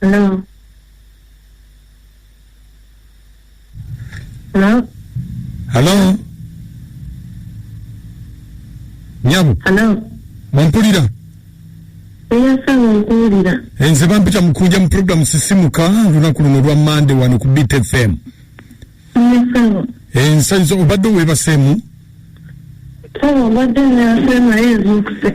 Hello. Hello. halo nyabo Hello. mumpulira Eyasaba okuwulira. Eh, nze bampita mukunja mu programu sisimuka olunaku luno lwa mande wano ku bit fm Eyasaba. ensanyi zo obadde owebaseemu Saba obadde neyasema yezuukuse.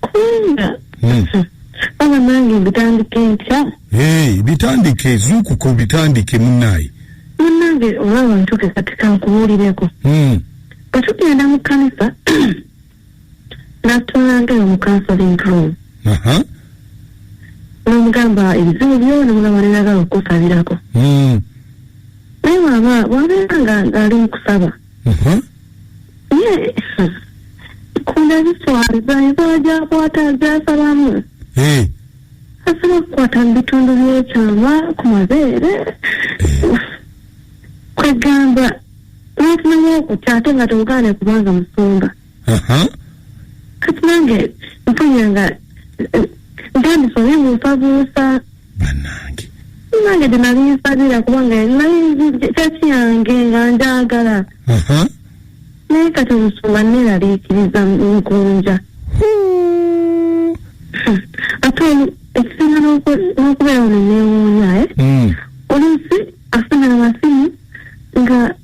kubanga Hmm. baba nange mbitandika entya Hey, bitandike zuukuka obitandike munaayi munange oba abantu ke kati kankubuulireko Hmm. bwe tugenda mu kkanisa natwalangayo mu counseling room aha nomugamba ebizibu byo nomulaba nenagala okukusabirako Hmm. naye waba wabeera nga ali mu kusaba Mhm. ye kunda ziswaza enkola gyakwata gyasalamu Eh, asobola okukwata mu bitundu byekyama ku mabeere kwegamba n'ofunamu okutya ate nga tewugaane kubanga musumba Aha. kati nange mpulira nga eh, ntandise obibuusabuusa banange nange gye nali nsabira kubanga nali nzi- kyaki yange nga njagala Aha. naye kati omusumba neeraliikiriza nkunja Huu. ate oli- ekisinga n'oku- n'okubeera ono neewuunya eh? Mm. oluusi afuna amasimu nga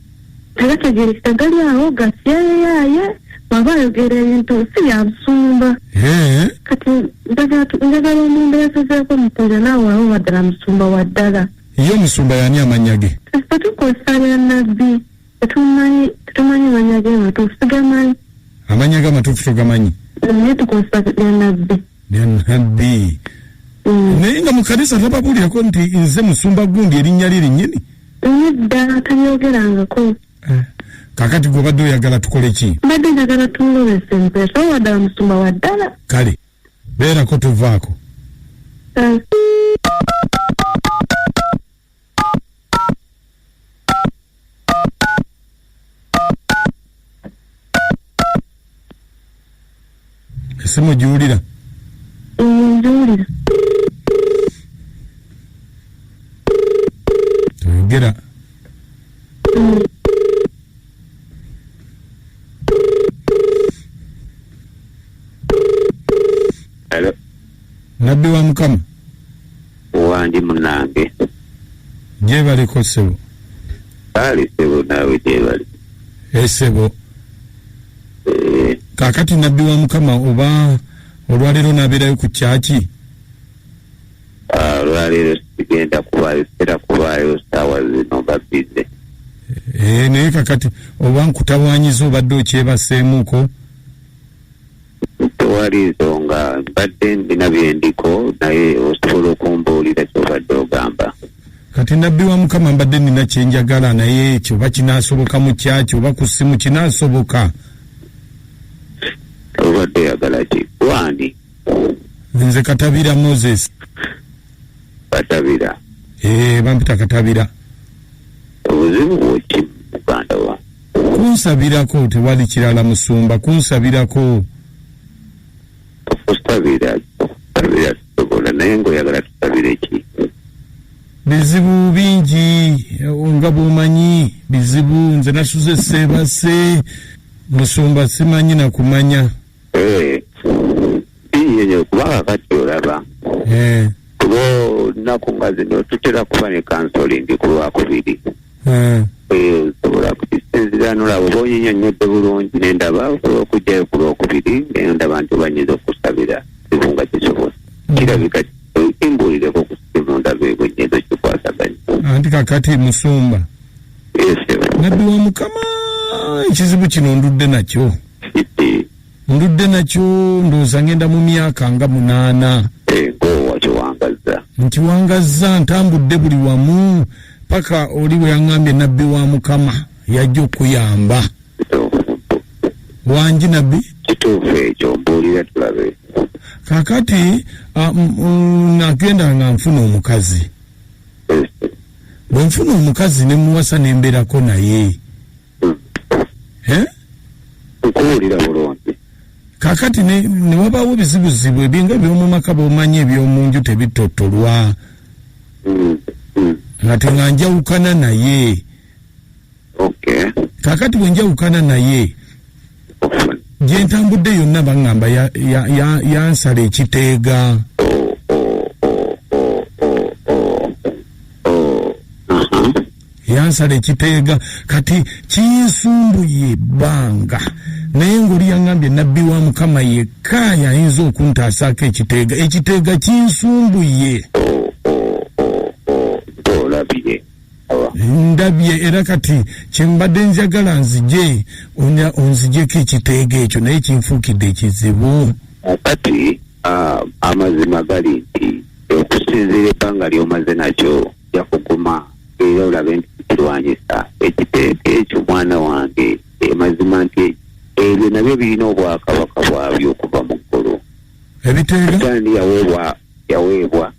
tegategerekeka gali awo gasyeyaaye bwaba ayogera ebintu si byabusumba Eh, kati njagala tu- njagala omuntu yasazeeko mukunja naawe awo waddala musumba wa ddala ye omusumba yani amannya ge ffe tukozesa lya nabbi tetumanyi tetumanyi manya ge matuufu sigamanyi amannya ge amatuufu togamanyi naye tukozesa lya nabbi lya nabbi Mm. naye nga mu kanisa tababuulirako nti nze musumba gundi erinnya lye linnyini naye ddala tabyogerangako eh. kakati gwe obadde oyagala tukole ki mbadde njagala tumulobesa empeesa oba ddala musumba wa ddala kale beerako tuvaako eh. esimu giwulira nziwulira toyogera nabbi wa mukama wandi munange gyebaliko sebo kale sebo naawe gyebali esebo eh. kakati nabbi wa mukama oba olwaleero nabeerayo ku kyaki ah, olwaleero sigenda kubaayo sitera kubaayo saawa zino babize eh, naye kakati oba nkutawanyiza obadde okyebaseemuko tewali nsonga mbadde ndina byendiko naye osobola okumbuulira kyobadde ogamba kati nabbi wa mukama mbadde nina kyenjagala naye ekyo oba kinasoboka mu kyaki oba ku ssimu kinasoboka obadde oyagala ki gwani nze katabira moses katabira ee eh, bampita katabira obuzibu bwoki muganda wa Kunsabirako tewali kirala musumba kunsabirako. Tukusabira tukusabira tusobola naye ng'oyagala tusabire ki? Bizibu bingi nga bw'omanyi bizibu nze nasuze seebase musumba simanyi na kumanya. Eh. binyenye kuba kakati olaba eh. kuba olunaku nga zino tutera kuba ne kansolingi ku lwakubiri eh. Eh, osobola kukisinzira nolaba oba onyinyonyodde bulungi nendaba osobola okugyayo ku lwokubiri nendaba nti obanyinza okusabira kibu nga kisobola mm. kirabika kimbuulireko ku simu ndaba ebwenyezo kikwasaganya anti kakati musumba nabbi wa mukama ekizibu kino ndudde nakyo Ndudde nakyo ndowooza ngenda mu myaka nga munaana. Ego eh, wakiwangazza. Nkiwangazza ntambudde buli wamu paka oli bwe yaŋŋambye nabbi wa Mukama yajja okuyamba. Wangi nabbi? Kituufu ekyo mbuulira tulabe. Kakati ah, nagenda nga nfuna omukazi. Eh, eh. Bwe nfuna omukazi ne muwasa ne mbeerako naye. eh? nkuwulira bulungi kakati newabawo bizibuzibu ebinga ebyomumaka bomanyi ebyomunju tebitotolwa mm, mm. ngate nga njawukana naye kakati bwenjawukana naye gyentambudde yonna baŋamba yansala ekiteega yansala ekiteega kati kinsumbuye ebbanga naye ng'oli yaŋambye nabbi wa mukama yekka yayinza okuntaasaako ekiteega ekiteega kinsumbuye ndabye era kati kyembadde njagala nzije onzijeko ekiteega ekyo naye kinfuukidde ekizibu kati amazima gali nti okusinziira ebbanga lyomaze nakyo ojja kuguma era olabe nti kirwanyisa ekiteeka ekyo mwana wange emazima eh, nti ebyo nabyo birina obwakabaka bwabyo okuva mu ggulu ebiteegandi yaweebwa yaweebwa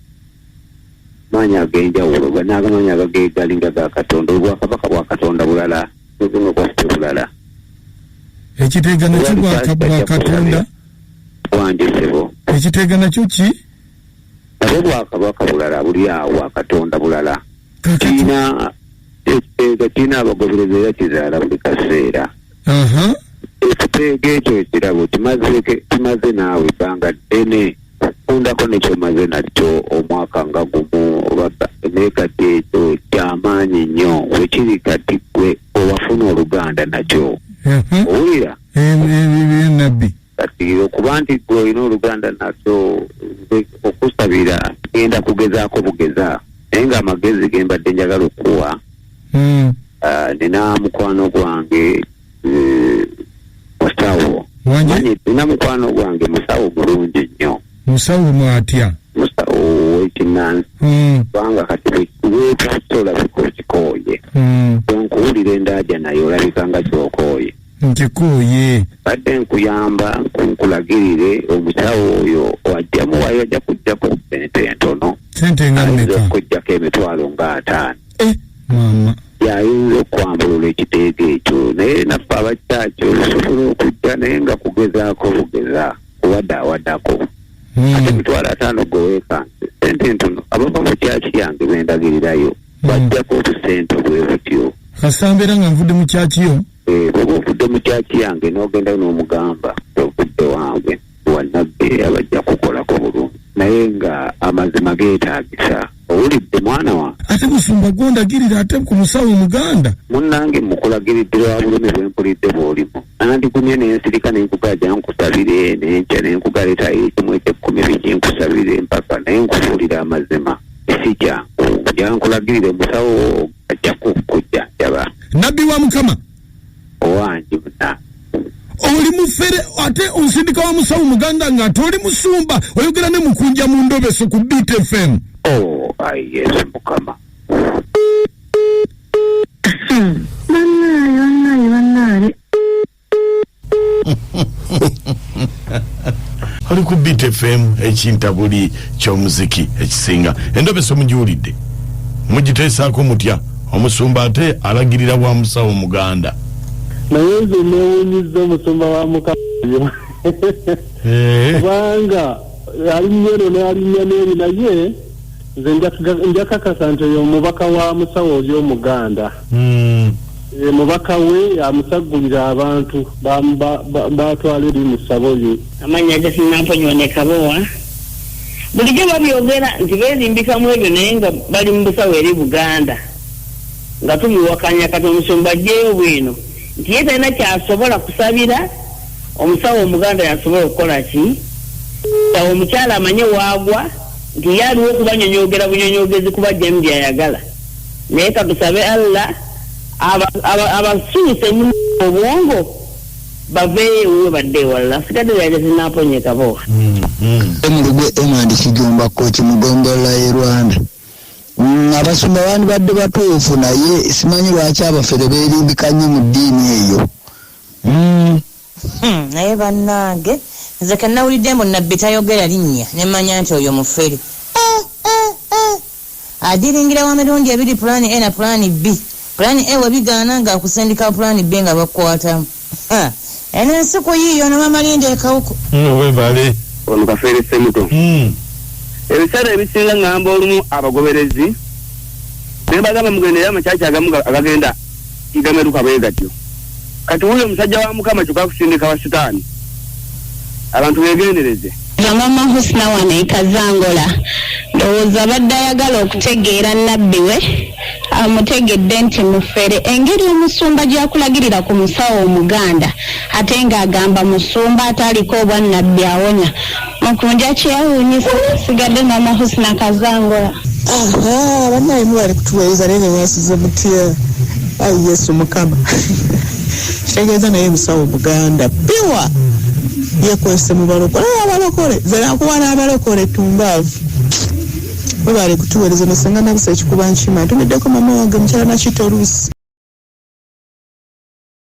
maanyi ag'enjawulo naagamaanyi agageegali nga ga katonda obwakabaka bwa katonda bulala nobuno bwaffe bulala ekiteega nakyo bwakatonda bwanjisebo ekiteega nakyo ki nabo bwakabaka bulala buli awo bwakatonda bulala kirina ekiteega kirina abagoberezi era kizaala buli kaseera ekiteega ekyo ekirabo kimaze naawe ebbanga ddene okufundako nekyomaze nakyo omwaka nga gumu naye kati ekyo kyamaanyi nnyo wekiri kati gwe owafuna oluganda nakyo mhm. owulira nabbi kati okuba nti gwe olina oluganda naso okusabira genda kugezaako bugeza naye nga amagezi gembadde njagala okukuwa hmm. ah, nina mukwano gwange eh, musawo nina mukwano gwange musawo mulungi nnyo musawo mwatya musawo wekinansi hmm. kubanga kati wetasola biko kikooye hmm. onkuwulira endaaja naye olabika nga kyokooye nkikooye badde nkuyamba nkulagirire omusawo oyo wajja muwayo ajja kujjako sente entono sente nga ayinza mmeka okujjako emitwalo nga ataano Eh, maama yayinza okwambulula ekiteega ekyo naye naffe abakyaki olusobola okujja naye nga kugezaako bugeza kuwadaawadako ate Mm, emitwalo ataano goweekanse sente entono abava mu kyaki yange bendagirirayo bajjako obusente bwe butyo kasita mbeera nga nvudde mu kyakiyo Eh, bwoba ovudde mu kyaki yange n'ogendayo n'omugamba ovudde wange wanabbi abajja kukolako bulungi naye nga amazima geetaagisa owulidde mwana wa ate musumba gwondagirira ate ku musawo omuganda munnange mukulagiridde lwa bulumi bwe mpulidde bw'olimu nandigumye ne nsirika ne nkugaja nkusabire ne nkya ne nkugaleeta ekimu ekyekkumi biki nkusabire mpaka naye nkubuulira amazima si kyangu nja nkulagirire musawo ajja kukujja jaba nabbi wa mukama owange muna oli mufere ate onsindika wa musawo muganda nga ate oli musumba oyogera ne mukunja mu ndobeso ku btfm o oh, ayi yesu mukama banaye banaye banaye oli ku bit fm ekintabuli kyomuziki ekisinga endobesa omugiwulidde mugiteesaako mutya omusumba ate alagirira wa musawo muganda naye nze newunyiza omusumba wa mukayo eh. kubanga alinnyeno nalinnya neeri naye nze njakakasa nti oyo omubaka wa musawo oli omuganda hmm. e, mubaka we amusaggulira abantu batwala eri mu ssabo lye amannya gesinamponywa ne kabowa bulijjo babyogera nti beerimbika mu ebyo naye nga bali mu busawo eri buganda nga tubiwakanya kati omusumba ajjeyo bwino nti ye talina kyasobola kusabira omusawo omuganda yasobola okukola ki awo omukyala amanye waagwa nti ye aliwo okubanyonyogera bunyonyogezi kuba jemu byayagala naye katusabe allah abasuuse nyuma obwongo baveeyo ewuwe badde ewalala sikadde lyaja zinaponyeka bo emulugu mm-hmm. emandi kijomba koki mugombolola ye rwanda mm, abasumba bandibadde batuufu naye simanyi lwaki abafere berimbika nnyo mu ddiini eyo Uhmm naye banange nze kenawulidde mbu nabbi tayogera linnya nemanya nti oyo mufere eeh eeh eeh adilingira wa mirundi ebiri plan A na plan B plan A webigaana nga akusindika plan B nga bakukwatamu haa eno ensi kuyiiya ono mama Linda ekawuku. Nno webale. Ono kafeere ssemuto. Ebiseera ebisinga ngamba olumu abagoberezi nebagamba mugendereyo ama church agamu agagenda. tigameruka bwe gatyo kati wuyo omusajja wa mukama kyoka akusindika wa sitaani abantu begendereze Yamama Husna wano e Kazangola ndowooza abadde ayagala okutegeera nnabbi we amutegedde nti mufere engeri omusumba gyakulagirira ku musawo omuganda ate ng'agamba musumba ataaliko obwannabbi awonya Makunja kyewuunyisa sigadde mama Husna Kazangola. Aha, banaye mubali kutuweereza naye nemwasize mutya ayi yesu mukama kitegeeza naye musawo muganda piwa yekwese mubalokole naye abalokole zenakuba n'abalokole tumbaavu mubali kutuweereza nesenga nabisa ekikuba nkima ntumiddeko mama wange mukyala nakito oluusi